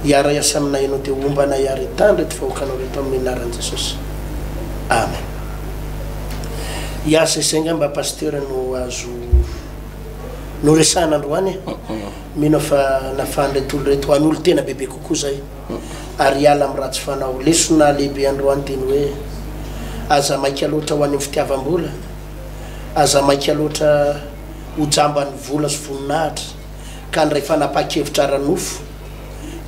Hiara-hiasa aminay Ianao, dia homba anay àry hitandro ireto vahoakanao ireto, amin'ny anaran'i Jesosy. Amen. Hiasa izay angamba Pasteur no azo noresahana androany e. Mino aho fa nafahan'ireto olona ireto hanolo-tena bebe kokoa izay ary hiala amin'ny ratsy fanao. Lesona lehibe androany dia ny hoe, Aza maika loatra ho any amin'ny fitiavam-bola. Aza maika loatra ho jamban'ny vola sy voninahitra ka handray fanapahan-kevitra ara-nofo,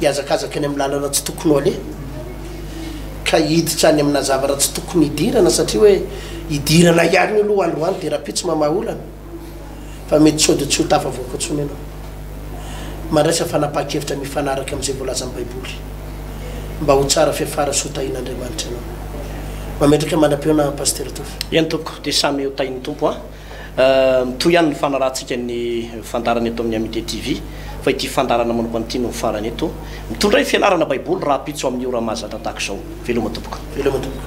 hihazakazaka eny amin'ny lalana tsy tokony ho aleha, ka hiditra any amina zavatra tsy tokony hidirana satria hoe hidirana ihany io aloha androany dia rahampitso mamaha olana. fa mety sôdy tsy ho tafavoaka intsony ianao. Mandraisa fanapahan-kevitra mifanaraka amin'izay voalazan'ny Baiboly, mba ho tsara fiafara sy ho tahin'Andriamanitra ianao. Mametraka mandra-pihaonana Pasitera Tovo. Eny tompoko, dia samy ho tahin'ny Tompo an! Mitohy ihany ny fanarahantsika ny fandaharana eto amin'ny Amitié TV, fa ity fandaharana manokana ity no farany eto. Mitondra ny fianarana Baiboly rahampitso amin'io raha mahazatra tahaka izao. Veloma tompoko. Veloma tompoko.